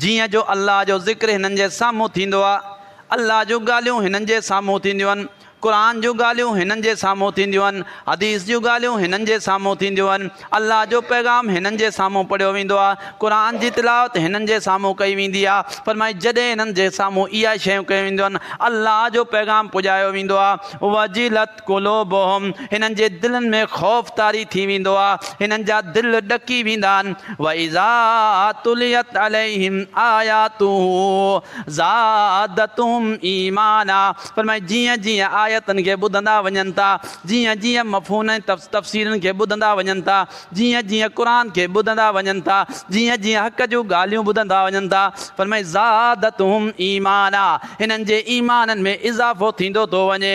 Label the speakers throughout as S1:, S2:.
S1: جيئن جو الله جو ذڪر هنن جي سامهون ٿيندو آهي، الله جون ڳالهيون هنن جي سامهون ٿينديون آهن، قرآن جون ڳالهيون هنن جي سامهون ٿينديون آهن، حديث جون ڳالهيون هنن جي سامهون ٿينديون آهن، الله جو پيغام هنن جي سامهون پڙهيو ويندو آهي، قرآن جي تلاوت هنن جي سامهون ڪئي ويندي آهي، فرمائي جڏهن هنن جي سامهون اهي شيون ڪيون وينديون آهن، الله جو پيغام پڄايو ويندو آهي، وجلت. قلوبهم هنن جي دلن ۾ خوف طاري ٿي ويندو آهي، هنن جا دل ڏڪي ويندا آهن، واذا تليت عليهم آياته زادتهم ايمانا فرمائي جيئن جيئن آيتن کي ٻڌندا وڃن ٿا، جيئن جيئن مفهومن ۽ تفسيرن کي ٻڌندا وڃن ٿا، جيئن جيئن قرآن کي ٻڌندا وڃن ٿا، جيئن جيئن حق جون ڳالهيون ٻڌندا وڃن ٿا، فرمائي زادتهم ايمانا هنن جي ايمانن ۾ اضافو ٿيندو ٿو وڃي.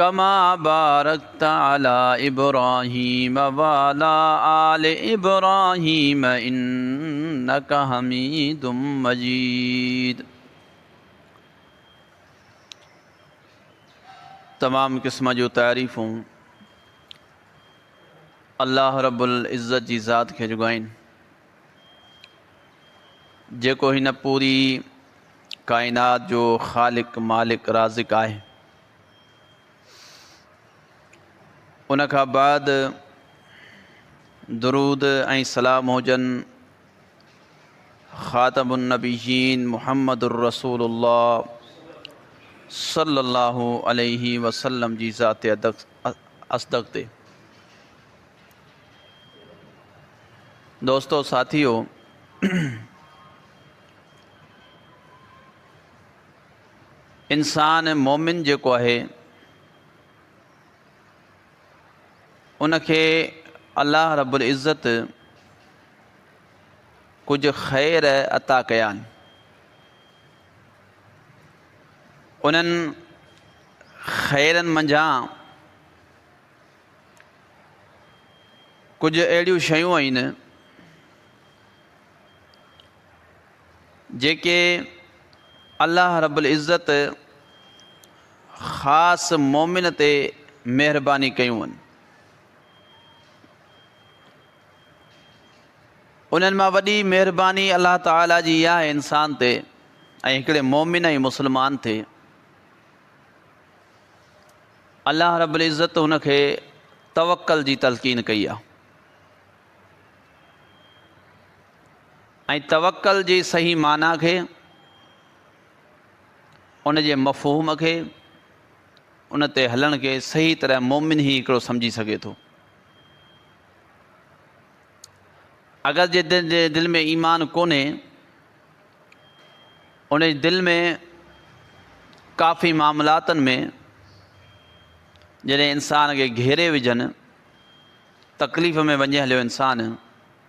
S1: ڪما بارڪت علي ابراهيم وعلي آل ابراهيم انڪ حميد مجيد تمام قسم جون تعريفون الله رب العزت جي ذات کي جڳو آهن جيڪو هن پوري ڪائنات جو خالق مالڪ رازق آهي ان کان بعد درود ۽ سلام هجن خاتم النبيين محمد الرسول الله صلي الله عليه وسلم جي ذات اصدق تي دوستو ساٿيو انسان ۽ مؤمن جيڪو آهي ان کي الله رب العزت ڪجهه خير عطا ڪيا آهن انهن خيرن منجهان ڪجهه اهڙيون شيون آهن جيڪي الله رب العزت خاص مومن تي مهرباني ڪيون هن انهن مان وڏي مهرباني الله تعاليٰ جي اها آهي انسان تي ۽ هڪڙي مومن ۽ مسلمان تي الله رب العزت هن کي توڪل جي تلقين ڪئي آهي ۽ توڪل جي صحيح معنيٰ کي، ان جي مفهوم کي، ان تي هلڻ کي صحيح طرح مؤمن ئي هڪڙو سمجهي سگهي ٿو. اگر جنهن جي دل ۾ ايمان ڪونهي، ان جي دل ۾ ڪافي معاملاتن ۾ جڏهن انسان کي گهيري وجهن، تڪليف ۾ وڃي هليو انسان،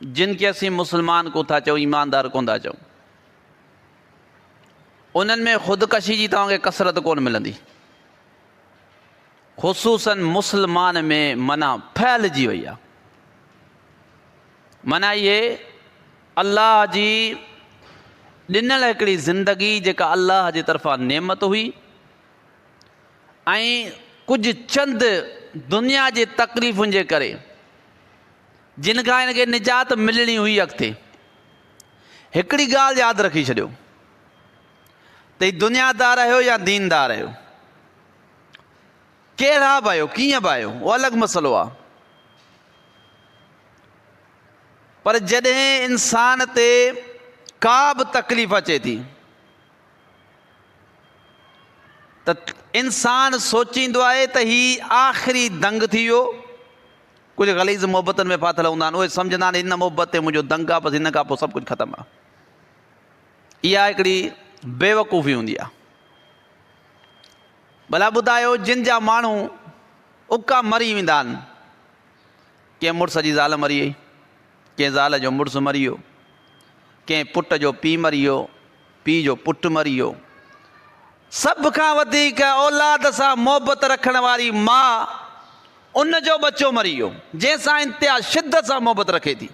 S1: جن کي اسين مسلمان ڪون ٿا چئون، ايماندار ڪون ٿا چئون، انهن ۾ خودڪشي جي توهان کي ڪثرت ڪون ملندي. خصوصاً مسلمان ۾ منع ڦهلجي وئي آهي. منع اهي الله جي ڏنل هڪڙي زندگي جيڪا الله جي طرفان نعمت هئي ۽ ڪجهه چند دنيا جي تڪليفن جي ڪري جن کان هن کي نجات ملڻي هئي اڳتي. هڪڙي ڳالهه ياد رکي ڇڏيو ته هي دنيا دار آهيو يا دين دار آهيو. ڪهڙا به آهيو ڪيئن به آهيو اهو الڳ مسئلو آهي. پر جڏهن انسان تي ڪا به تڪليف اچي ٿي ته انسان سوچيندو آهي ته هي آخري دنگ ٿي ويو. ڪجهه غليظ محبتن ۾ ڦاٿل هوندا آهن، اهي سمجهندا آهن هن محبت تي منهنجو دنگ آهي، بس هن کان پوء سڀ ڪجهه ختم آهي. اها هڪڙي بيوقوفي هوندي آهي. ڀلا ٻڌايو جن جا ماڻهو اڪا مري ويندا آهن، ڪنهن مڙس جي زال مري وئي، ڪنهن زال جو مڙس مري ويو، ڪنهن پٽ جو پيء مري ويو، پيء جو پٽ مري ويو. سڀ کان وڌيڪ اولاد سان محبت رکڻ واري ماء ان جو ٻچو مري ويو جنهن سان انتها شدت سان محبت رکي ٿي.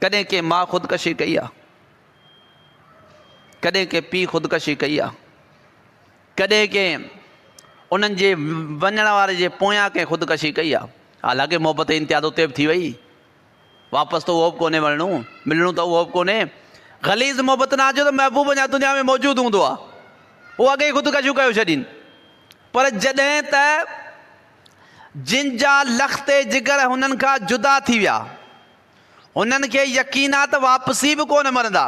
S1: ڪڏهن ڪنهن ماء خودڪشي ڪئي آهي؟ ڪڏهن ڪنهن پيء خودڪشي ڪئي آهي؟ ڪڏهن ڪنهن انهن جي وڃڻ واري جي پويان ڪنهن خودڪشي ڪئي آهي؟ حالانڪه محبت انتها ته اتي به ٿي وئي. واپس ته اهو به ڪونهي ورڻو، ملڻو ته اهو به ڪونهي. غليظ محبت نه آچو ته محبوب اڃا دنيا ۾ موجود هوندو ها. هو اڳي ئي خودڪشيون ڪيو ڇڏين. پر جڏهن ته جن جا لختي جگر هنن کان جدا ٿي ويا، هنن کي يقين ها ته واپسي به ڪونه مرندا.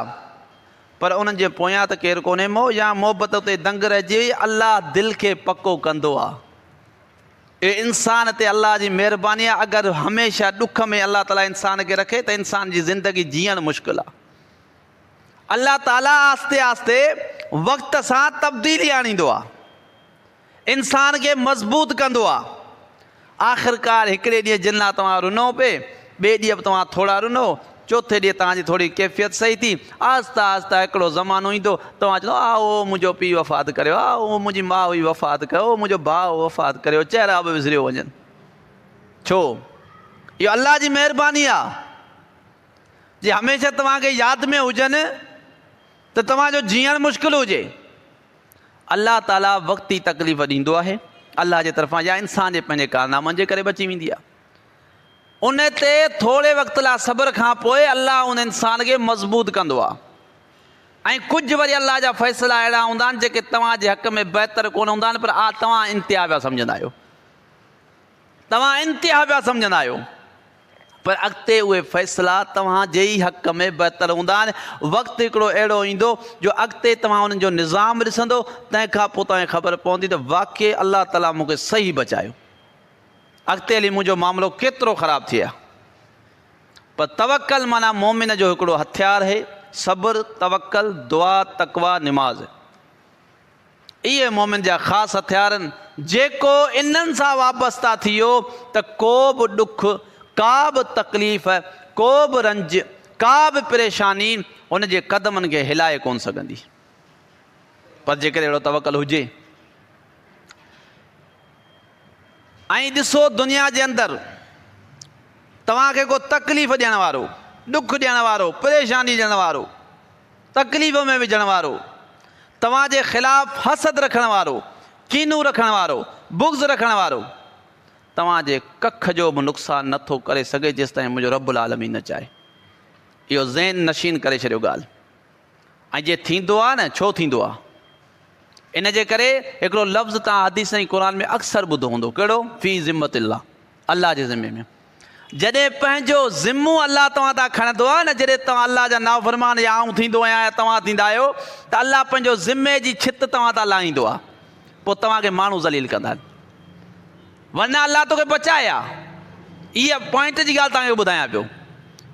S1: پر انهن جي پويان ته ڪير ڪونهي. موه يا محبت اتي دنگ رهجي وئي. الله دل کي پڪو ڪندو ها. اي انسان تي الله جي مهرباني آهي اگر هميشه ڏک ۾ الله تعالي انسان کي رکي ته انسان جي زندگي جيئڻ مشڪل آهي. الله تعالي آهستي آهستي وقت سان تبديلي آڻيندو آهي. انسان کي مضبوط ڪندو آهي. آخرڪار هڪڙي ڏينهن جنات اوهان رنو پي، ٻئي ڏينهن به توهان ٿورا رنو، چوٿين ڏينهن توهان جي ٿوري ڪيفيت صحيح ٿي، آهستي آهستي هڪڙو زمانو ايندو، توهان چوندو آء هو منهنجو پيء وفات ڪريو، آء هو منهنجي ماء هئي وفات ڪيو، هو منهنجو ڀاء هو وفات ڪريو، چهرا به وسريو وڃن. ڇو؟ اهو الله جي مهرباني آهي، جي هميشه توهان کي ياد ۾ هجن ته توهان جو جيئڻ مشڪل هجي. الله تعاليٰ وقتي تڪليف ڏيندو آهي، الله جي طرفان يا انسان جي پنهنجي ڪارنامن جي ڪري به اچي ويندي آهي. ان تي ٿوري وقت لاء صبر کان پوء الله ان انسان کي مضبوط ڪندو آهي ۽ ڪجهه وري الله جا فيصلا اهڙا هوندا آهن جيڪي توهان جي حق ۾ بهتر ڪونه هوندا آهن پر آء توهان انتها پيا سمجهندا آهيو توهان انتها پيا سمجهندا آهيو پر اڳتي اهي فيصلا توهان جي ئي حق ۾ بهتر هوندا آهن وقت هڪڙو اهڙو ايندو جو اڳتي توهان انهن جو نظام ڏسندو تنهن کان پوء توهان کي خبر پوندي ته واقعي الله تعاليٰ مون کي صحيح بچايو اڳتي هلي منهنجو معاملو ڪيترو خراب ٿئي ها. پر توڪل معنيٰ مؤمن جو هڪڙو هٿيار هي، صبر، توڪل، دعا، تقويٰ، نماز. اهي مؤمن جا خاص هٿيار آهن، جيڪو انهن سان وابسته ٿي ويو ته ڪو به ڏک، ڪا به تڪليف، ڪو به رنج، ڪا به پريشاني هن جي قدمن کي هلائي ڪونه سگهندي. پر جيڪڏهن اهڙو توڪل هجي. ۽ ڏسو دنيا جي اندر توهان کي ڪو تڪليف ڏيڻ وارو، ڏک ڏيڻ وارو، پريشاني ڏيڻ وارو، تڪليف ۾ وجهڻ وارو، توهان جي خلاف حسد رکڻ وارو، ڪينو رکڻ وارو، بغض رکڻ وارو توهان جي ڪک جو به نقصان نه ٿو ڪري سگهي جيستائين منهنجو رب العالمين نه چاهي. اهو ذهن نشين ڪري ڇڏيو ڳالهه. ۽ جي ٿيندو آهي نه ڇو ٿيندو آهي؟ ان جي ڪري هڪڙو لفظ توهان حديث ۽ قرآن ۾ اڪثر ٻڌو هوندو ڪهڙو في ذمت الله الله جي ذمي ۾ جڏهن پنهنجو ذمو الله توهان تان کڻندو آهي نه جڏهن توهان الله جا نافرمان يا آئون ٿيندو آهيان يا توهان ٿيندا آهيو ته الله پنهنجو ذمي جي ڇت توهان تان لاهيندو آهي پوء توهان کي ماڻهو ذليل ڪندا آهن ورنه الله توکي بچائي ها هيء پوائنٽ جي ڳالهه توهان کي ٻڌايان پيو.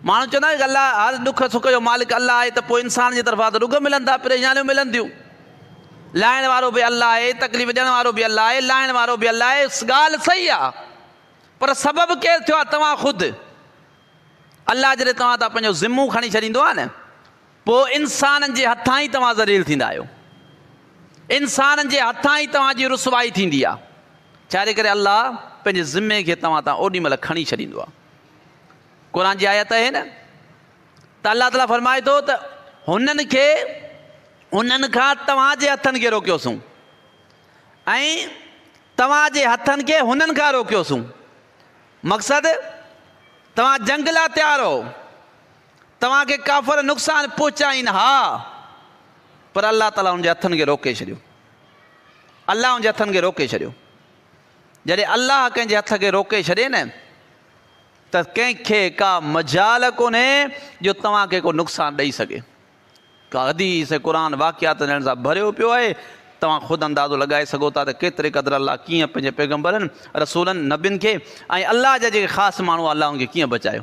S1: ماڻهو چوندا آهن ته الله هر ڏک سک جو مالڪ الله آهي ته پوء انسان جي طرفان ته ڏک ملن ٿا پريشانيون ملن ٿيون. لاهڻ وارو به الله آهي تڪليف ڏيڻ وارو به الله آهي لاهڻ وارو به الله آهي ڳالهه صحيح آهي پر سبب ڪير ٿيو آهي توهان خود الله جڏهن توهان تان پنهنجو ذمو کڻي ڇڏيندو آهي نه پوء انسانن جي هٿان ئي توهان ذليل ٿيندا آهيو. انسانن جي هٿان ئي توهان جي رسوائي ٿيندي آهي. ڇاجي ڪري الله پنهنجي ذمي کي توهان تان اوڏي مهل کڻي ڇڏيندو آهي. قرآن جي آيت آهي نه ته الله تعاليٰ فرمائي ٿو ته هنن کي انهن کان توهان جي هٿن کي روڪيوسون ۽ توهان جي هٿن کي هنن کان روڪيوسون. مقصد توهان جنگ لاء تيار هئو. توهان کي ڪافر نقصان پهچائين ها پر الله تعالي ان جي هٿن کي روڪي ڇڏيو. الله ان جي هٿن کي روڪي ڇڏيو. جڏهن الله ڪنهن جي هٿ کي روڪي ڇڏي نه ته ڪنهن کي ڪا مجال ڪونهي جو توهان کي ڪو نقصان ڏئي سگهي. ڪا حديث ۽ قرآن واقعاتن جهڙن سان ڀريو پيو آهي. توهان خود اندازو لڳائي سگهو ٿا ته ڪيتري قدر الله ڪيئن پنهنجي پيغمبرن، رسولن، نبين کي ۽ الله جا جيڪي خاص ماڻهو الله ان کي ڪيئن بچايو.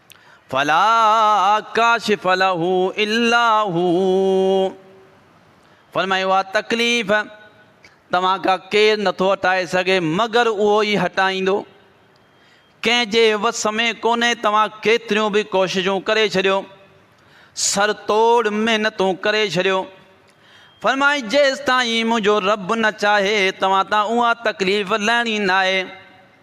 S1: فلا ڪاشف له الا هو فرمايو آ تڪليف توهان کا ڪير نٿو هٽائي سگهي مگر اهو ئي هٽائيندو ڪنهن جي وس ۾ ڪونهي توهان ڪيتريون به ڪوششون ڪري ڇڏيو سر توڙ محنتون ڪري ڇڏيو فرمائي جيستائين منهنجو رب نه چاهي توهان تان اها تڪليف لهڻي ناهي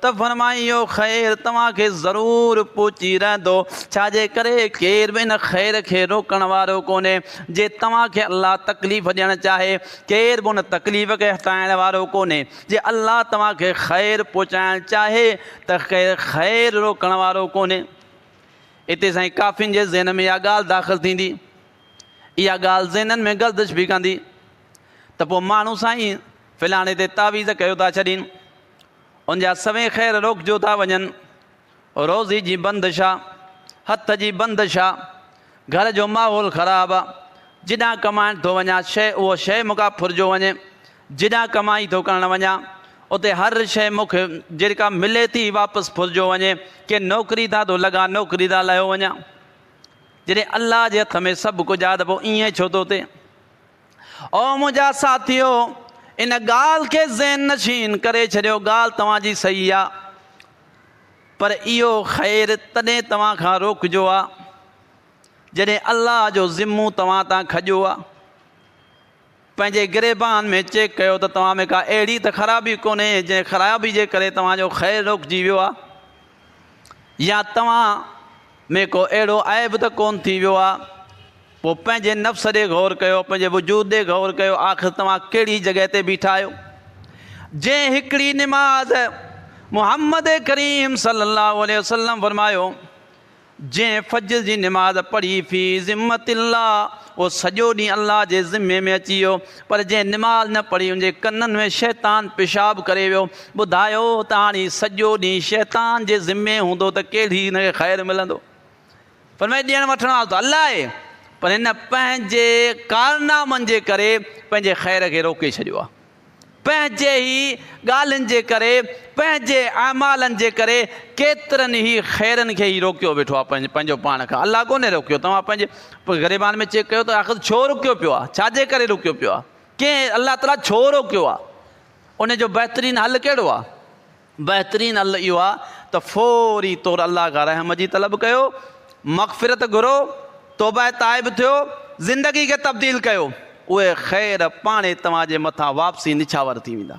S1: ته فرمائي اهو خير توهان کي ضرور پهچي رهندو، ڇا جي ڪري ڪير به ان خير کي روڪڻ وارو ڪونهي، جي توهان کي الله تڪليف ڏيڻ چاهي، ڪير به ان تڪليف کي هٽائڻ وارو ڪونهي، جي الله توهان کي خير پهچائڻ چاهي ته ڪير خير روڪڻ وارو ڪونهي. اتي سائين ڪافين جي ذهن ۾ اها ڳالهه داخل ٿيندي، اها ڳالهه ذهنن ۾ گردش به ڪندي ته پوء ماڻهو سائين فلاڻي تي تعويذ ڪيو ٿا ڇڏين، ان جا سوين خير روڪجو ٿا وڃن، روزي جي بندش آ، هٿ جي بندش آ، گهر جو ماحول خراب آ، جيڏانهن ڪمائڻ ٿو وڃان شيء اهو شيء مون کان ڦرجو وڃي، جيڏانهن ڪمائي ٿو ڪرڻ وڃان اتي هر شيء مون کي جيڪا ملي ٿي واپس ڦرجو وڃي، ڪي نوڪري تان ٿو لڳان نوڪري تان لهيو وڃان، جڏهن الله جي هٿ ۾ سڀ ڪجهه آ ته پوء ائين ڇو ٿو ٿئي. او منهنجا ساٿيو! ان ڳالهه کي ذهن نشين ڪري ڇڏيو، ڳالهه توهان جي صحيح آ، پر اهو خير تڏهن توهان کان روڪجو آ، جڏهن الله جو ذمو توهان تان کڄيو آ. پنهنجي گريبان ۾ چيڪ ڪيو ته توهان ۾ ڪا اهڙي ته خرابي ڪونهي، جنهن خرابي جي ڪري توهان جو خير روڪجي ويو آ، يا توهان ۾ ڪو اهڙو عيب ته ڪونه ٿي ويو آ؟ پوء پنهنجي نفس ڏي غور ڪيو، پنهنجي وجود ڏي غور ڪيو، آخر توهان ڪهڙي جڳهه تي بيٺا آهيو؟ جنهن هڪڙي نماز محمد ڪريم صلي الله عليه وسلم فرمايو، جنهن فجر جي نماز پڙهي في ذمة الله، اهو سڄو ڏينهن الله جي ذمي ۾ اچي ويو، پر جنهن نماز نه پڙهي ان جي ڪنن ۾ شيطان پيشاب ڪري ويو ٻڌايو ته هاڻ هي سڄو ڏينهن شيطان جي ذمي هوندو ته ڪهڙي هن کي خير ملندو فرمائي ڏيڻ وٺڻ وارو ته الله آهي پر هن پنهنجي ڪارنامن جي ڪري پنهنجي خير کي روڪي ڇڏيو آهي پنهنجي هي ڳالهين جي ڪري پنهنجي اعمالن جي ڪري ڪيترن هي خيرن کي هي روڪيو ويٺو آهي پنهنجو پاڻ کان الله ڪونهي روڪيو توهان پنهنجي پوء گريبان ۾ چيڪ ڪيو ته آخر ڇو رڪيو پيو آهي، ڇا جي ڪري رڪيو پيو آهي، ڪنهن الله تعاليٰ ڇو روڪيو آهي، ان جو بهترين حل ڪهڙو آهي؟ بهترين حل اهو آهي ته فوري طور الله کان رحم جي طلب ڪيو، مغفرت گهرو، توبه تائب ٿيو، زندگي کي تبديل ڪيو، اهي خير پاڻهي توهان جي مٿان واپسي نڇاور ٿي ويندا.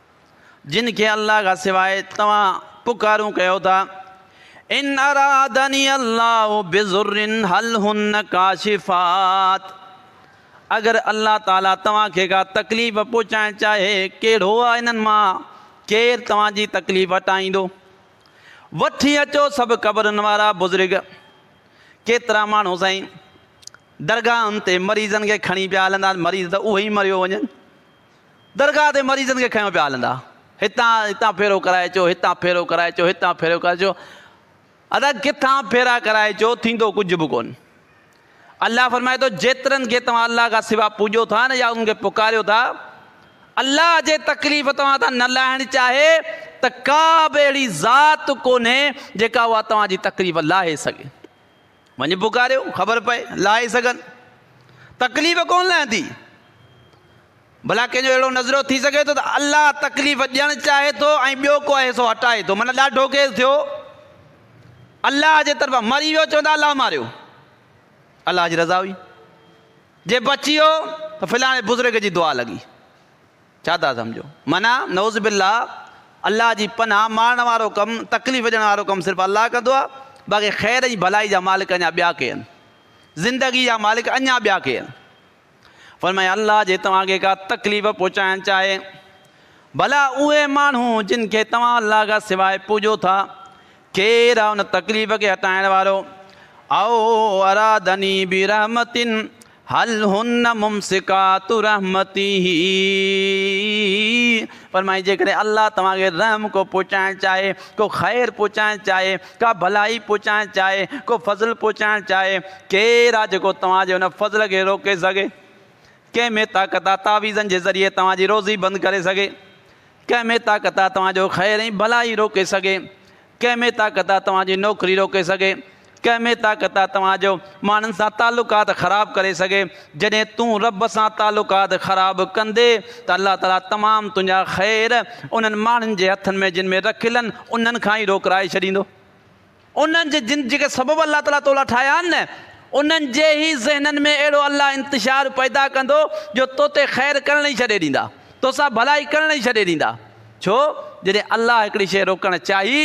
S1: جن کي الله کان سواء توهان پڪارون ڪيو ٿا ان ارادني الله بذر هل هن کاشفات اگر الله تعالي توهان کي ڪا تڪليف پهچائڻ چاهي ڪهڙو آ انهن مان ڪير توهان جي تڪليف هٽائيندو وٺي اچو سڀ قبرن وارا بزرگ ڪيترا ماڻهو سائين درگاهن تي مريضن کي کڻي پيا هلندا مریض ته اهي ئي مريو وڃن درگاهه تي مريضن کي کنيو پيا هلندا. هتان هتان ڦيرو ڪرائي اچو، هتان ڦيرو ڪرائي اچو، هتان ڦيرو ڪرائي اچو. ادا ڪٿان ڦيرا ڪرائي اچو، ٿيندو ڪجهه به ڪونه. الله فرمائي ٿو جيترن کي توهان الله کان سوا پوڄو ٿا نه يا انهن کي پڪاريو ٿا، الله جي تڪليف توهان تان نه لاهڻ چاهي ته ڪا به اهڙي ذات ڪونهي جيڪا اها توهان جي تڪليف لاهي سگهي. وڃي پڪاريو خبر پئي لاهي سگهن تڪليف ڪونه لهندي ڀلا ڪنهن جو اهڙو نظرو ٿي سگهي ٿو ته الله تڪليف ڏيڻ چاهي ٿو ۽ ٻيو ڪو آهي سو هٽائي ٿو مانا ڏاڍو ڪيس ٿيو الله جي طرفان مري ويو چوندا الله ماريو الله جي رضا هئي جي بچي ويو ته فلاڻي بزرگ جي دعا لڳي ڇا ٿا سمجهو؟ معنيٰ نعوذ بالله الله جي پناهه مارڻ وارو ڪم، تڪليف ڏيڻ وارو ڪم صرف الله ڪندو آهي، باقي خير ۽ ڀلائي جا مالڪ اڃا ٻيا ڪي آهن. زندگي جا مالڪ اڃا ٻيا ڪي آهن. فرمايائين الله جي توهان کي ڪا تڪليف پهچائڻ چاهي، ڀلا اهي ماڻهو جن کي توهان الله کان سواء پوڄو ٿا، ڪير آهي ان تڪليف کي هٽائڻ وارو؟ او ارادني برحمة هل هن ممسڪات رحمته، فرمائي جيڪڏهن الله توهان کي رحم ڪو پهچائڻ چاهي، ڪو خير پهچائڻ چاهي، ڪا ڀلائي پهچائڻ چاهي، ڪو فضل پهچائڻ چاهي، ڪير آ جيڪو توهان جي ان فضل کي روڪي سگهي؟ ڪنهن ۾ طاقت آ تعويذن جي ذريعي توهان جي روزي بند ڪري سگهي؟ ڪنهن ۾ طاقت آ توهان جو خير ۽ ڀلائي روڪي سگهي؟ ڪنهن ۾ طاقت آ توهان جي نوڪري روڪي سگهي، ڪنهن ۾ طاقت آ توهان جو ماڻهن سان تعلقات خراب ڪري سگهي، جڏهن تون رب سان تعلقات خراب ڪندي ته الله تعالي تمام تنهنجا خير انهن ماڻهن جي هٿن ۾ جن ۾ رکيل آهن انهن کان ئي روڪرائي ڇڏيندو. انهن جي جن جيڪي سبب الله تعالي تو لاء ٺاهيا آهن نه انهن جي ئي ذهنن ۾ اهڙو الله انتشار پيدا ڪندو جو توتي خير ڪرڻ ئي ڇڏي ڏيندا، توسان ڀلائي ڪرڻ ئي ڇڏي ڏيندا. ڇو جڏهن الله هڪڙي شيء روڪڻ چاهي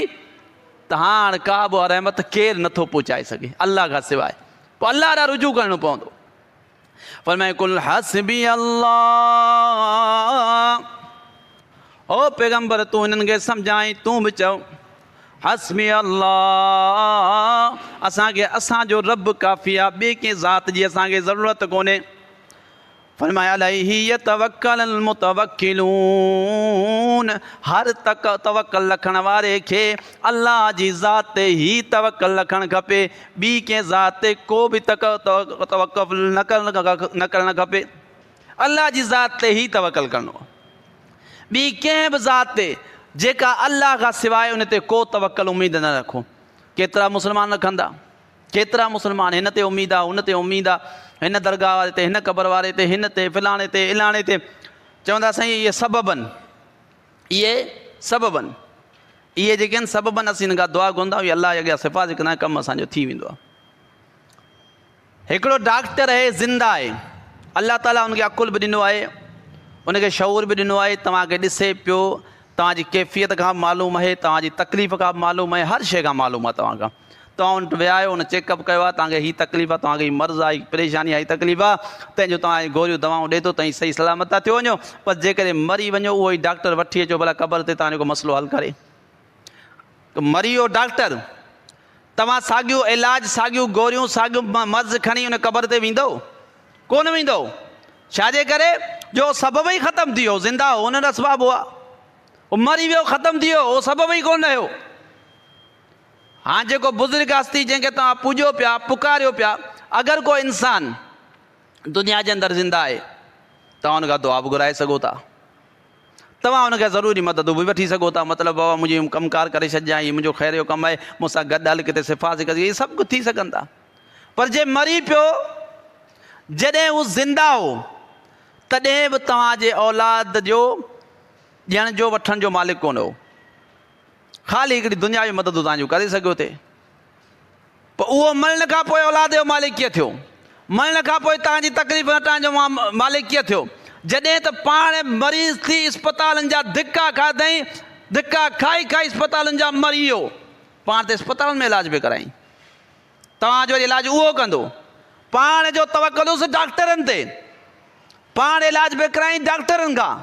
S1: ته هاڻ ڪابه رحمت ڪير نٿو پهچائي سگهي الله کان سواء پوء الله ڏانهن رجوع ڪرڻو پوندو فرمائي قل حسبي الله او پيغمبر تون انهن کي سمجھائين تون به چؤ حسبي الله اسان کي اسان جو رب ڪافي آ ٻي ڪنهن ذات جي اسان کي ضرورت ڪونهي فرمايا عليه يتوڪل المتوڪلون هر تڪ توڪل رکڻ واري کي الله جي ذات تي ئي توڪل رکڻ کپي ٻي ڪنهن ذات تي ڪو به تڪ توڪل نه ڪرڻ کپي الله جي ذات تي ئي توڪل ڪرڻو ٻي ڪنهن به ذات تي جيڪا الله کان سواء ان تي ڪو توڪل اميد نه رکو ڪيترا مسلمان رکندا ڪيترا مسلمان هن تي اميد آ، هن تي اميد آ، هن درگاهه واري تي، هن قبر واري تي، هن تي، فلاڻي تي، الاڻي تي. چون ٿا سائين اهي سبب آهن، اهي سبب آهن. اهي جيڪي آهن سبب آهن، اسين هنن کان دعا گهرندا آهيون، الله جي اڳيان سفارش ڪندا آهيون، ڪم اسان جو ٿي ويندو آهي. هڪڙو ڊاڪٽر اهي زنده آهي، الله تعاليٰ هن کي عقل به ڏنو آهي، هن کي شعور به ڏنو آهي، توهان کي ڏسي پيو، توهان جي ڪيفيت کان به معلوم اهي، توهان جي تڪليف کان به معلوم اهي، هر شيء کان معلوم آهي توهان کان. توهان ان وٽ ويا آهيو، ان چيڪ اپ ڪيو آهي، توهان کي هي تڪليف آهي، توهان کي هي مرض آهي، هي پريشاني آهي، هي تڪليف آهي، تنهن جون توهان کي گوريون دوائون ڏئي ٿو، توهين صحيح سلامت ٿا ٿيو وڃو، بس جيڪڏهن مري وڃو اهو ئي ڊاڪٽر وٺي اچو ڀلا قبر تي توهان جو ڪو مسئلو حل ڪري. مري ويو ڊاڪٽر. توهان ساڳيو علاج، ساڳيون گوريون، ساڳيو مرض کڻي ان قبر تي ويندؤ؟ ڪونه ويندؤ. ڇا جي ڪري جو اهو سبب ئي ختم ٿي ويو، زنده هو ان اسباب هئا. اهو مري ويو ختم ٿي ويو، اهو سبب ئي ڪونه رهيو. هاڻ جيڪو بزرگ هستي جنهن کي توهان پوڄيو پيا، پڪاريو پيا، اگر ڪو انسان دنيا جي اندر زنده آهي، توهان ان کان دعا به گهرائي سگهو ٿا. توهان هن کان ضروري مددون به وٺي سگهو ٿا. مطلب بابا منهنجي هيم ڪم ڪار ڪري ڇڏجان، هي منهنجو خير جو ڪم آهي، مون سان گڏ هل ڪٿي شفا حاصل ڪرجي، اهي سڀ ڪجهه ٿي سگهن ٿا. پر جي مري پيو، جڏهن هو زنده هو، تڏهن به توهان جي اولاد جو ڏيڻ جو وٺڻ جو مالڪ ڪونه هو. خالي هڪڙي دنيا جون مددون توهان جون ڪري سگهيو ٿي. پوء اهو مرڻ کان پوء اولاد جو مالڪ ڪيئن ٿيو؟ مرڻ کان پوء توهان جي تڪليفن هٽائڻ جو مالڪ ڪيئن ٿيو؟ جڏهن ته پاڻ مريض ٿي اسپتالن جا ڌڪا کاڌئين، ڌڪا کائي کائي اسپتالن جا مري ويو، پاڻ ته اسپتالن ۾ علاج به ڪرايائين. توهان جو وري علاج اهو ڪندو؟ پاڻ جو توڪلس ڊاڪٽرن تي، پاڻ علاج به ڪرايائين ڊاڪٽرن کان.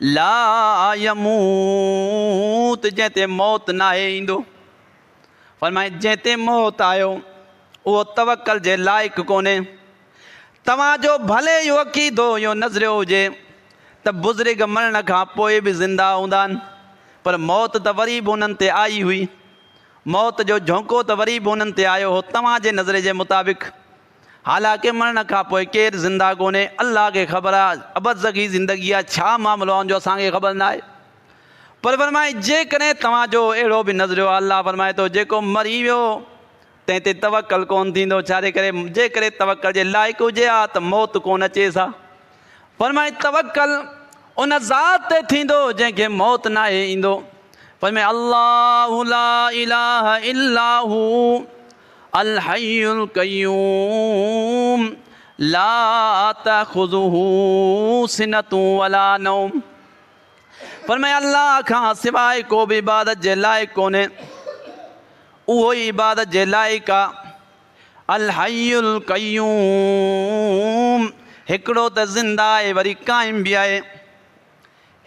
S1: لا يموت جنهن تي موت ناهي ايندو. فرمائي جنهن تي موت آيو اهو توڪل جي لائق ڪونهي. توهان جو ڀلي اهو عقيدو يا نظريو هجي ته بزرگ مرڻ کان پوء به زنده هوندا آهن پر موت ته وري به انهن تي آئي هئي. موت جو جهونڪو ته وري به انهن تي آيو هو توهان جي نظريي جي مطابق. حالانڪ مرڻ کان پوء ڪير زنده ڪونهي، الله کي خبر آهي ابرزخي زندگيء جا ڇا معاملو آهن جو اسان کي خبر ناهي. پر فرمائي، جيڪڏهن توهان جو اهڙو به نظريو آهي، الله فرمائي ٿو، جيڪو مري ويو تنهن تي توڪل ڪونه ٿيندو، ڇا جي ڪري جيڪڏهن توڪل جي لائق هجي ها ته موت ڪونه اچيس ها. فرمائي، توڪل ان ذات تي ٿيندو جنهن کي موت ناهي ايندو. فرمائي، الله لا اله الا هو. الحي القيوم لا تاخذه سنة ولا نوم فرمايا الله کان سواء ڪو به عبادت جي لائق ڪونهي اهو ئي عبادت جي لائق آ الحي القيوم هڪڙو ته زنده آهي وري قائم به آهي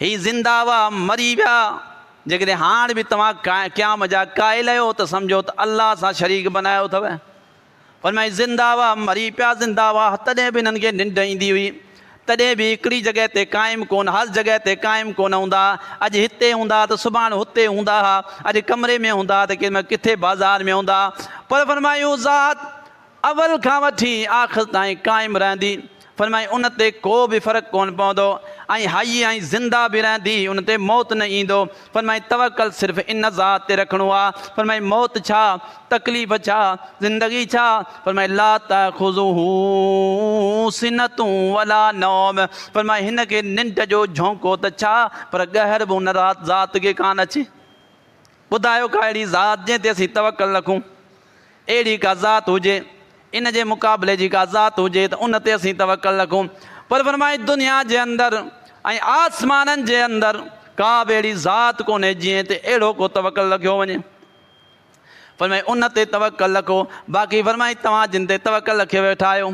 S1: هي زنده هئا، مري ويا. جيڪڏهن هاڻ به توهان قيام جا قائل آهيو ته سمجهو ته الله سان شريڪ بنايو اٿئو. فرمائي، زنده هئا، مري پيا، زنده هئا، تڏهن به انهن کي ننڊ ايندي هئي. تڏهن به هڪڙي جڳهه تي قائم ڪونه، هر جڳهه تي قائم ڪونه هوندا ها. اڄ هتي هوندا ها ته سڀاڻ هتي هوندا ها. اڄ ڪمري ۾ هوندا ها ته ڪيڏي مهل ڪٿي بازار ۾ هوندا ها. پر فرمايو، ذات اول کان وٺي آخر تائين قائم رهندي، فرمائي، ان تي ڪو به فرق ڪونه پوندو، ۽ حي ۽ زنده به رهندي، ان تي موت نه ايندو، فرمائي، توڪل صرف ان ذات تي رکڻو آ، فرمائي، موت ڇا؟ تڪليف ڇا؟ زندگي ڇا؟ فرمائي، لا تاخذه سنة ولا نوم، فرمائي، هن کي ننڊ جو جهونڪو ته ڇا پر ڳهر به ان ذات کي ڪانه اچي. ٻڌايو ڪا اهڙي ذات جنهن تي اسين توڪل رکون، اهڙي ڪا ذات هجي، ان جي مقابلي جي ڪا ذات هجي ته ان تي اسين توڪل رکون. پر فرمائي دنيا جي اندر ۽ آسمانن جي اندر ڪا به اهڙي ذات ڪونهي جنهن تي اهڙو ڪو توڪل رکيو وڃي. فرمائي ان تي توڪل رکو، باقي فرمائي توهان جن تي توڪل رکي ويٺا آهيو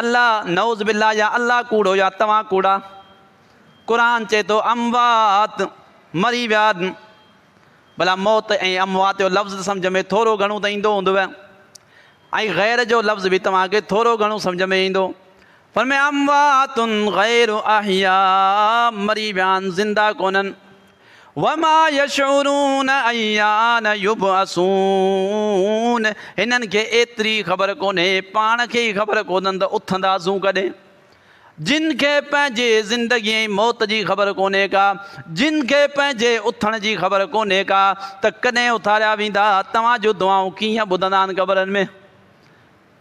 S1: الله نعوذ بالله يا الله ڪوڙو يا توهان ڪوڙا قرآن چئي ٿو اموات مري ويا ڀلا موت ۽ اموات جو لفظ ته سمجهه ۾ ٿورو گهڻو ته ايندو هوندو ۽ غير جو لفظ به توهان کي ٿورو گهڻو سمجهه ۾ ايندو فرمايا اموات غير احياء مري ويا آهن زنده ڪونهن وما يشعرون ايان يبعثون هنن کي ايتري خبر ڪونهي پاڻ کي ئي خبر ڪونهن ته اٿنداسون ڪڏهن جن کي پنهنجي زندگي ۽ موت جي خبر ڪونهي ڪا جن کي پنهنجي اٿڻ جي خبر ڪونهي ڪا ته ڪڏهن اٿاريا ويندا توهان جون دعائون ڪيئن ٻڌندا آهن قبرن ۾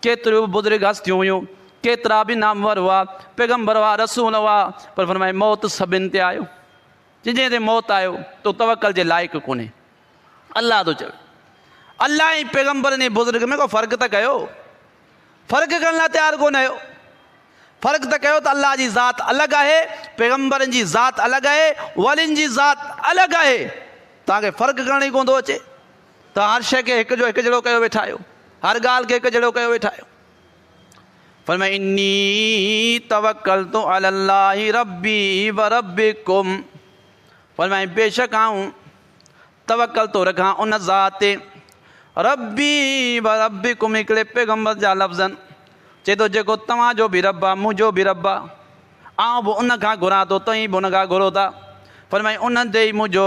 S1: ڪيتريون به بزرگ هستيون هيون، ڪيترا به نامور هئا، پيغمبر هئا، رسول هئا، پر فرمايو موت سڀن تي آيو، جنهن جنهن تي موت آيو تو توڪل جي لائق ڪونهي، الله ٿو چوي، الله ۽ پيغمبرن ۽ بزرگ ۾ ڪو فرق ته ڪيو، فرق ڪرڻ لاء تيار ڪونه آهيو، فرق ته ڪيو ته الله جي ذات الڳ آهي، پيغمبرن جي ذات الڳ آهي، ولين جي ذات الڳ آهي، توهان کي فرق ڪرڻ ئي ڪونه ٿو اچي. ته هر شيء کي هڪ جو هڪ جهڙو ڪيو ويٺا آهيو، هر ڳالهه کي هڪ جهڙو ڪيو ويٺا آهيو. فرمايو اني توڪلت علي الله ربي وربڪم فرمايو بيشڪ آئون توڪل ٿو رکان ان ذات تي ربي وربڪم هڪڙي پيغمبر جا لفظن چئي ٿو جيڪو توهان جو به رب آهي منهنجو به رب آهي آئون به ان کان گهران ٿو توهين به ان کان گهرو ٿا فرمايو انهن تي ئي منهنجو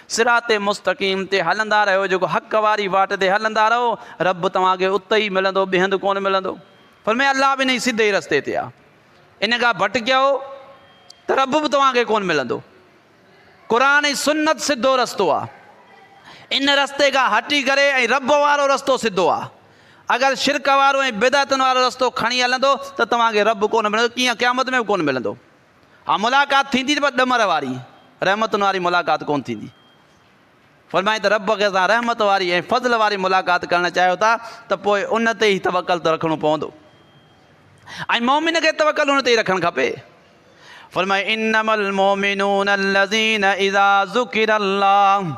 S1: صراط مستقيم تي هلندا رهيو جيڪو حق واري واٽ تي هلندا رهو رب توهان کي اتي ئي ملندو ٻئي هنڌ ڪونه ملندو فرمايو الله به انهي سڌي رستي تي آهي ان کان ڀٽڪيو ته رب به توهان کي ڪونه ملندو قرآن ۽ سنت سڌو رستو آهي ان رستي کان هٽي ڪري ۽ رب وارو رستو سڌو آهي اگر شرڪ وارو ۽ بدعتن وارو رستو کڻي هلندو ته توهان کي رب ڪونه ملندو ڪيئن قيامت ۾ به ڪونه ملندو اها ملاقات ٿيندي ته بس ڏمر واري، رحمتن واري ملاقات ڪونه ٿيندي. فرمائي ته رب کي اسان رحمت واري ۽ فضل واري ملاقات ڪرڻ چاهيو ٿا ته پوء ان تي ئي توڪل ته رکڻو پوندو ۽ مؤمن کي توڪل ان تي ئي رکڻ کپي. فرمائي انما المؤمنون الذين اذا ذڪر الله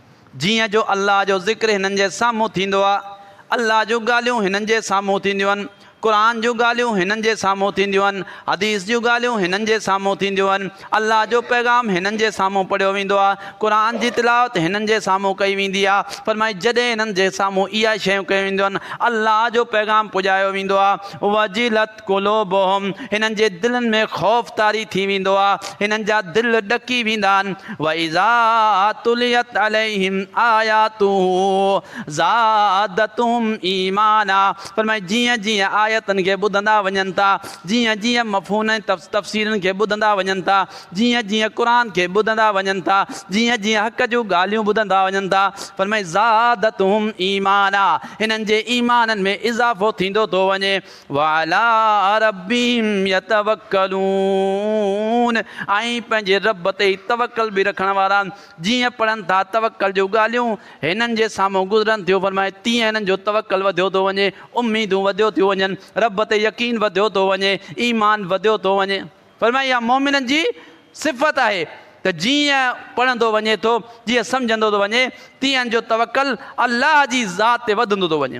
S1: جيئن جو الله جو ذڪر هنن جي سامهون ٿيندو آهي، الله جون ڳالهيون هنن جي سامهون ٿينديون آهن، قرآن جون ڳالهيون هنن جي سامهون ٿينديون آهن، حديث جون ڳالهيون هنن جي سامهون ٿينديون آهن، الله جو پيغام هنن جي سامهون پڙهيو ويندو آهي، قرآن جي تلاوت هنن جي سامهون ڪئي ويندي آهي، فرمائي جڏهن هنن جي سامهون اهي شيون ڪيون وينديون آهن، الله جو پيغام پڄايو ويندو آهي، وجلت. قلوبهم هنن جي دلن ۾ خوف طاري ٿي ويندو آهي، هنن جا دل ڏڪي ويندا آهن، واذا تليت عليهم آياته زادتهم ايمانا فرمائي جيئن جيئن آيتن کي ٻڌندا وڃن ٿا، جيئن جيئن مفهومن ۽ تفسيرن کي ٻڌندا وڃن ٿا، جيئن جيئن قرآن کي ٻڌندا وڃن ٿا، جيئن جيئن حق جون ڳالهيون ٻڌندا وڃن ٿا، فرمائي زادتهم ايمانا هنن جي ايمانن ۾ اضافو ٿيندو ٿو وڃي. وعلي ربهم يتوڪلون ۽ پنهنجي رب تي ئي توڪل به رکڻ وارا جيئن پڙهن ٿا توڪل جون ڳالهيون هنن جي سامهون گذرن ٿيون فرمائي تيئن هنن جو توڪل وڌيو ٿو وڃي اميدون وڌيو ٿيون وڃن رب تي يقين وڌيو ٿو وڃي ايمان وڌيو ٿو وڃي فرمائي اها مؤمنن جي صفت آهي ته جيئن پڙهندو وڃي ٿو جيئن سمجهندو ٿو وڃي تيئن هن جو توڪل الله جي ذات تي وڌندو ٿو وڃي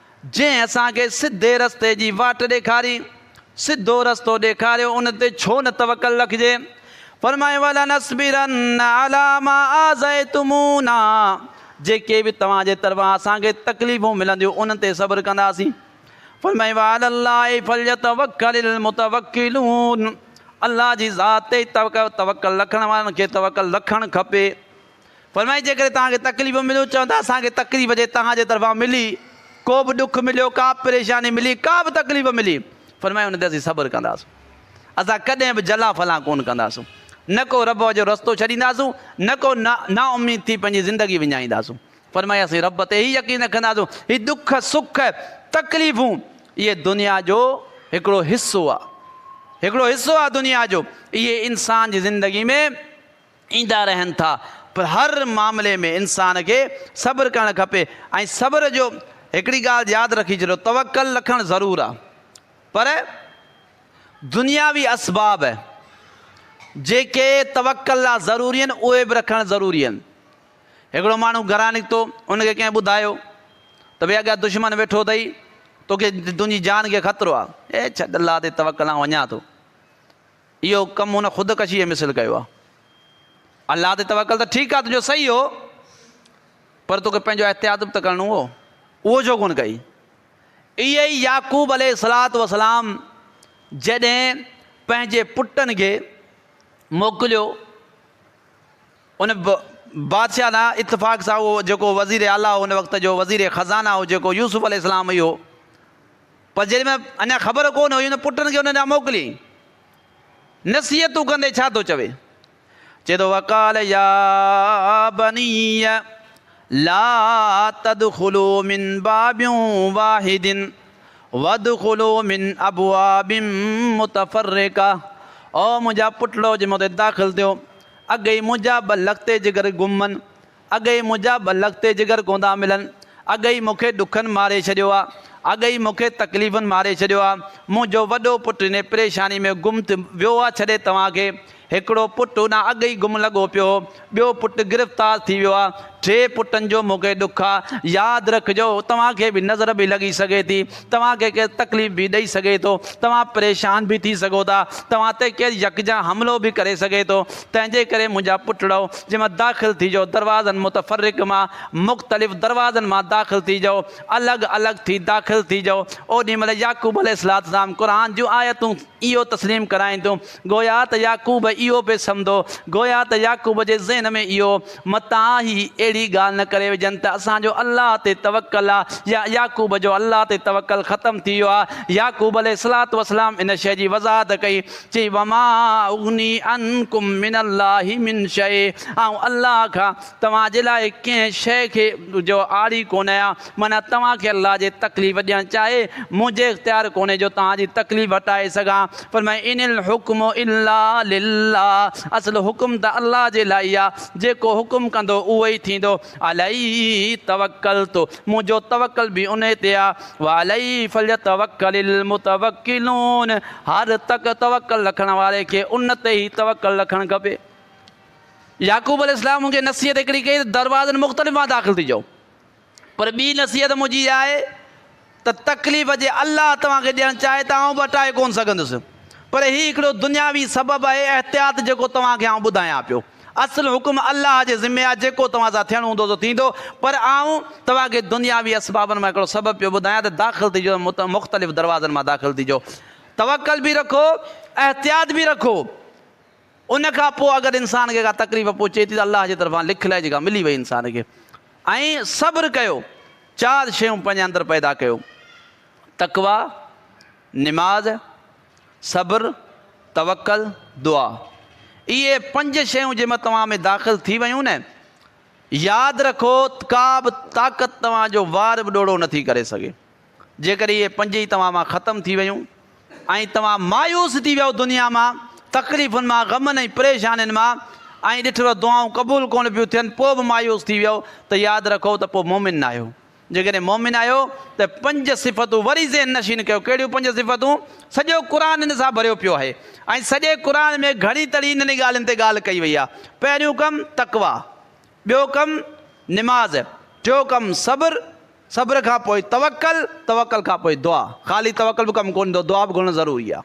S1: جنهن اسان کي سڌي رستي جي واٽ ڏيکاري، سڌو رستو ڏيکاريو، ان تي ڇو نه توڪل رکجي؟ فرمايو ولنصبرن علي ما آذيتمونا جيڪي به توهان جي طرفان اسان کي تڪليفون ملنديون انهن تي صبر ڪنداسين. فرمايو وعلي الله فليتوڪل المتوڪلون الله جي ذات تي ئي توڪل رکڻ وارن کي توڪل رکڻ کپي. فرمائي جيڪڏهن توهان کي تڪليف مليون چون ته اسان کي تڪليف جي توهان جي طرفان ملي ڪو به ڏک مليو ڪا به پريشاني ملي ڪا به تڪليف ملي فرمائي ان تي اسين صبر ڪنداسون اسان ڪڏهن به جلا فلان ڪون ڪنداسون نه ڪو رب جو رستو ڇڏينداسون نه ڪو نا اميد ٿي پنهنجي زندگي وڃائينداسون فرمائي اسين رب تي هي يقين رکنداسون هي ڏک سک تڪليفون اهي دنيا جو هڪڙو حصو آهي هڪڙو حصو آهي دنيا جو اهي انسان جي زندگي ۾ ايندا رهن ٿا پر هر معاملي ۾ انسان کي صبر ڪرڻ کپي ۽ صبر جو هڪڙي ڳالهه ياد رکي ڇڏيو توڪل رکڻ ضرور آ پر دنياوي اسباب جيڪي توڪل لا ضروري آهن اهي به رکڻ ضروري آهن هڪڙو ماڻهو گهران نڪتو ان کي ڪنهن ٻڌايو ته ڀي اڳيان دشمن ويٺو اٿئي توکي تنهنجي جان کي خطرو آ اي ڇڏ الله تي توڪل آ وڃان ٿو اهو ڪم هن خودڪشيء جي مثل ڪيو آهي. الله تي توڪل ته ٺيڪ آهي تنهنجو صحيح هو، پر توکي پنهنجو احتياط به ته ڪرڻو هو، اهو ڇو ڪونه ڪئي؟ ايئن ئي يعقوب عليه الصلوة والسلام جڏهن پنهنجي پٽن کي موڪليو، ان بادشاهه سان اتفاق سان اهو جيڪو وزير اعليٰ هو ان وقت جو، وزير خزانه هو جيڪو يوسف عليه السلام ئي هو، پر جيل ۾ اڃا خبر ڪو نه هئي هن پٽن کي ان ڏانهن موڪليائين. نصيحتون ڪندي ڇا ٿو چوي؟ چئي ٿو وقال يا بني لا تدخلو من باب واحد وادخلو من ابواب متفرقه او منهنجا پٽڙو جي مون تي داخل ٿيو اڳي ئي منهنجا ٻه لکتي جگر گم هن اڳ ئي منهنجا ٻه لک تي جگر ڪوندا ملن، اڳ ئي مون کي ڏکن ماري ڇڏيو آ، اڳ ئي مون کي تڪليفن ماري ڇڏيو آ، منهنجو وڏو پٽ انهي پريشاني ۾ گم ٿي ويو آ ڇڏي توهان کي، هڪڙو پٽ هوڏانهن اڳ ئي گم لڳو پيو هو، ٻيو پٽ گرفتار ٿي ويو آ، ٽي پٽن جو مون کي ڏک آ، ياد رکجو توهان کي به نظر به لڳي سگهي ٿي توهان کي ڪير تڪليف به ڏئي سگهي ٿو، توهان پريشان به ٿي سگهو ٿا، توهان تي ڪير يڪجا حملو به ڪري سگهي ٿو، تنهنجي ڪري منهنجا پٽڙؤ، جنهن مان داخل ٿيجو، دروازن متفرق مان، مختلف دروازن مان داخل ٿيجو، الڳ الڳ ٿي داخل ٿيجو، اوڏي مهل يعقوب عليه السلام قرآن جون آيتون اهو تسليم ڪرائين ٿيون. وقت. گويا ته يعقوب اهو به سمدو، گويا ته يعقوب جي ذهن ۾ اهو متان هي اهڙي ڳالهه نه ڪري وجهن ته اسان جو الله تي توڪل آ يا يعقوب جو الله تي توڪل ختم ٿي ويو آ، يعقوب عليه الصلوة والسلام ان شيء جي وضاحت ڪئي، چي، وما اغني عنڪم من الله من شيء، آئون الله کان. توهان جي لاء ڪنهن شيء کي جو آڙي ڪونه آهيان، معنيٰ توهان کي الله جي تڪليف ڏيڻ چاهي، مون جي اختيار ڪونهي جو توهان جي تڪليف هٽائي سگهان. فرمايائين، ان الحڪم الا لله، اصل حڪم ته الله جي لاء ئي آهي، جيڪو حڪم ڪندو اهو ئي ٿيندو، عليه توڪلت، منهنجو توڪل به انهي تي آهي، وعليه فليتوڪل المتوڪلون، هر توڪل رکڻ واري کي ان تي ئي توڪل رکڻ کپي. يعقوب عليه السلام هن کي نصيحت هڪڙي ڪئي ته دروازن مختلف مان داخل ٿي جو پر ٻي نصيحت منهنجي اها آهي ته تڪليف جي الله توهان کي ڏيڻ چاهي ته آئون به هٽائي ڪونه سگهندس پر هي هڪڙو دنياوي سبب آهي احتياط جيڪو توهان کي آئون ٻڌايان پيو اصل حڪم الله جي ذمي آهي جيڪو توهان سان ٿيڻو هوندو سو ٿيندو پر آئون توهان کي دنياوي اسبابن مان هڪڙو سبب پيو ٻڌايان ته داخل ٿي جو مختلف دروازن مان داخل ٿي جو توڪل به رکو احتياط به رکو. ان کان پوء اگر انسان کي ڪا تڪليف پهچي ٿي ته الله جي طرفان لک لائي جيڪا ملي وئي انسان کي ۽ صبر ڪيو چار شيون پنهنجي اندر پيدا ڪيو تقويٰ، نماز، صبر، توڪل، دعا اهي پنج شيون جي مان توهان ۾ داخل ٿي ويون نه ياد رکو ته ڪا به طاقت توهان جو وار به ڏوڙو نٿي ڪري سگهي. جيڪڏهن اهي پنج ئي توهان مان ختم ٿي ويون ۽ توهان مايوس ٿي ويؤ دنيا مان، تڪليفن مان، غمن ۽ پريشانين مان ۽ ڏٺوء دعائون قبول ڪونه پيون ٿين پوء به مايوس ٿي ويؤ ته ياد رکو ته پوء مؤمن نه آهيو. جيڪڏهن مؤمن آهيو ته پنج صفتون وري ذهن نشين ڪيو، ڪهڙيون پنج صفتون؟ سڄو قرآن ان سان ڀريو پيو آهي ۽ سڄي قرآن ۾ گهڻي ترين انهن ڳالهين تي ڳالهه ڪئي وئي آهي. پهريون ڪم تقويٰ، ٻيو ڪم نماز، ٽيون ڪم صبر، صبر کان پوء توڪل، توڪل کان پوء دعا، خالي توڪل به ڪم ڪونهي ايندو دعا به گهرڻ ضروري آهي.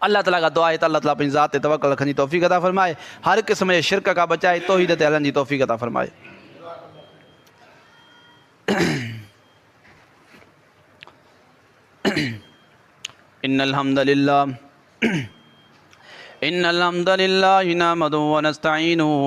S1: الله تعاليٰ کان دعا آهي ته الله تعاليٰ پنهنجي ذات تي توڪل رکڻ جي توفيق عطا فرمائي، هر قسم جي شرڪ کان بچائي توحيد تي هلڻ جي توفيق عطا فرمائي. ان الحمد لله ان الحمد لله نحمده ونستعينه.